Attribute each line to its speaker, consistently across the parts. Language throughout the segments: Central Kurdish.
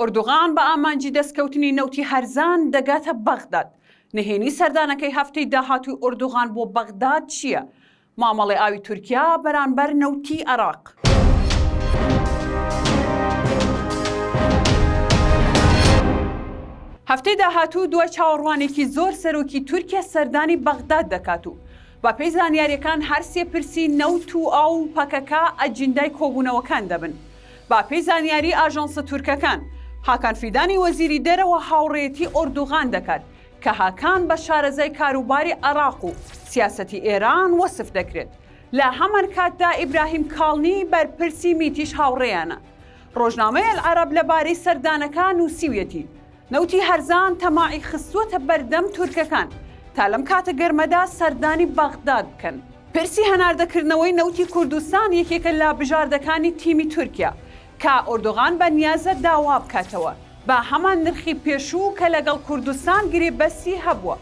Speaker 1: ئۆردوغان بە ئامانجی دەستکەوتنی نەوتی هەرزان دەگاتە بەغداد. نهێنی سەردانەکەی هەفتەی داهاتووی ئۆردوغان بۆ بەغداد چییە؟ مامەڵەی ئاوی تورکیا بەرانبەر نەوتی عێراق. هەفتەی داهاتوو دوای چاوەڕوانێکی زۆر سەرۆکی تورکیا سەردانی بەغداد دەکات و بەپێی زانیاریەکان هەر سێ پرسی نەوت و ئاو و پەکەکە ئەجیندای کۆبوونەوەکان دەبن. بەپێی زانیاری ئاژانسە تورکەکان، هاکان فیدانی وەزیری دەرەوە هاوڕێیەتی ئۆردوغان دەکات، کە هاکان بە شارەزای کاروباری عێراق و سیاسەتی ئێران وەسف دەکرێت. لە هەمانکاتدا ئیبراهیم کاڵنی بەرپرسی میتیش هاوڕێیانە. ڕۆژنامەی ئەلعەرەب لەبارەی سەردانەکە نووسیویەتی، نەوتی هەرزان تەماعی خستووەتە بەردەم تورکەکان تا لەم کاتە گەرمەدا سەردانی بەغداد بکەن. پرسی هەناردەکردنەوەی نەوتی کوردستان یەکێکە لە بژاردەکانی تیمی تورکیا، کە ئۆردۆغان بە نیازە داوا بکاتەوە بە هەمان نرخی پێشوو کە لەگەڵ کوردستان گرێبەستی هەبووە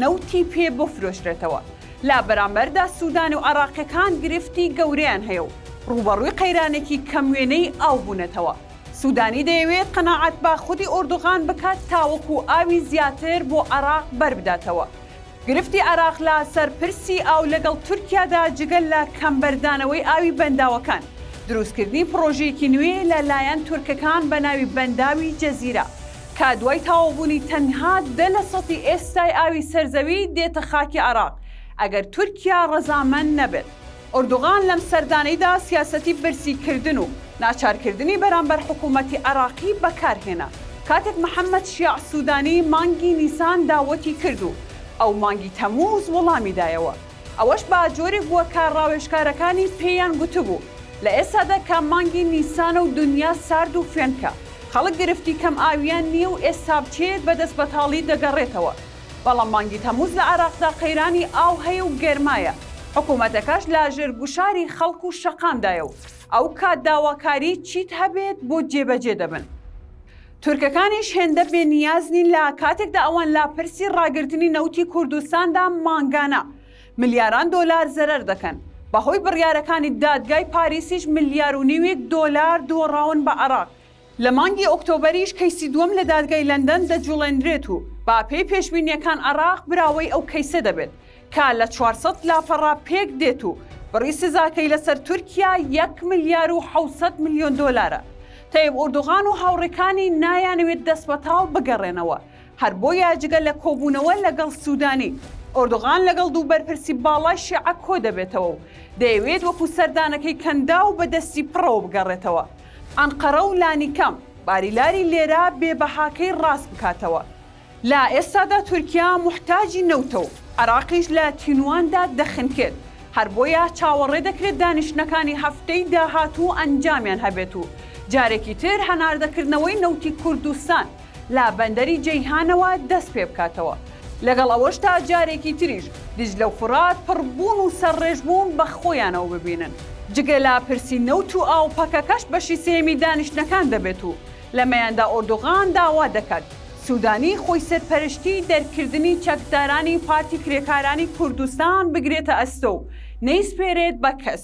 Speaker 1: نەوتی پێ بفرۆشرێتەوە، لە بەرامبەردا سودانی و عێراقییەکان گرفتی گەورەیان هەیە و ڕووبەڕووی قەیرانێکی کەم وێنەی ئاو بوونەتەوە. سودانی دەیەوێت قەناعەت بە خودی ئۆردوغان بکات تاوەکو ئاوی زیاتر بۆ عێراق بەربداتەوە. گرفتی عێراق لە سەر پرسی ئاو لەگەڵ تورکیادا جگە لە کەم بەردانەوەی ئاوی بەنداوەکان، دروستکردنی پڕۆژەیەکی نوێ لە لایەن تورکەکان بە ناوی بەنداوی جەزیرە کە دوای تەواوبوونی تەنها دە لە سەتی ئێستای ئاوی سەرزەوی دێتە خاکی عێراق ئەگەر تورکیا ڕەزامەند نەبێت. ئۆردوغان لەم سەردانەیدا سیاسەتی برسی کردن و ناچارکردنی بەرامبەر حکوومەتی عێراقی بەکارهێنا، کاتێک محەممەد شیاع سوودانی مانگی نیسان داوەتی کرد و ئەو مانگی تەمووز وڵامی دایەوە. ئەوەش بە جۆرێک بووە کە ڕاوێژکارەکانی پێیان گوتبوو، لە ئێستادا کە مانگی نیسانە و دنیا سارد و فێنکە، خەڵک گرفتی کەمئاوییان نییە و ئێستا بچێت بە دەستبەتاڵی دەگەڕێتەوە. بەڵام مانگی تەمووز لە عێراقدا قەیرانی ئاو هەیە و گەرمایە، حکومەتەکەش لە ژێر گوشاری خەڵک و شەقامدایە و ئەو کات داواکاری چیت هەبێت بۆ جێبەجێ دەبن. تورکەکانیش هێندە بێ نیاز نین لە کاتێکدا ئەوان لە پرسی ڕاگرتنی نەوتی کوردستاندا مانگانە ملیاران دۆلار زەرەر دەکەن، بەهۆی بڕیارەکانی دادگای پاریسیش ملیار و نیویک دۆلار دۆڕاون بە عێراق لە مانگی ئۆکتۆبەریش کەیسی دووەم لە دادگای لەندەن دەجوڵێنرێت و بە پێی پێشبینییەکان عێراق براوەی ئەو کەیسە دەبێت کە لە چوار سەد لاپەڕە پێک دێت و بڕی سزاکەی لەسەر تورکیا یەک ملیار و حەوت سەد ملیۆن دۆلارە. تەیب ئوردوغان و هاوڕێکانی نایانەوێت دەستبەتاڵ بگەڕێنەوە، هەر بۆیە جگە لە کۆبوونەوە لەگەڵ سوودانی، ئۆردوغان لەگەڵ دوو بەرپرسی باڵای شیعە کۆدەبێتەوە و دەیەوێت وەکو سەردانەکەی کەنداو بە دەستی پڕەوە بگەڕێتەوە. ئەنقەرە و لانیکەم باریلاری لێرە بێ بەهاکەی ڕاست بکاتەوە. لە ئێستادا تورکیا موحتاجی نەوتە و عێراقیش لە تینوواندا دەخنکێت، هەر بۆیە چاوەڕێ دەکرێت دانیشتنەکانی هەفتەی داهاتوو ئەنجامیان هەبێت و جارێکی تر هەناردەکردنەوەی نەوتی کوردستان لە بەندەری جەیهانەوە دەست پێ بکاتەوە. لەگەڵ ئەوەشدا جارێکی تریش دیجلە و فورات پڕبوون و سەرڕێژبوون بە خۆیانەوە ببینن. جگە لە پرسی نەوت و ئاو پەکەکەش بەشی سێیەمی دانیشتنەکان دەبێت و لەمەیاندا ئۆردوغان داوا دەکات سوودانی خۆیسەرپەرشتی دەرکردنی چەکدارانی پارتی کرێکارانی کوردستان بگرێتە ئەستۆ و نەیسپێرێت بە کەس.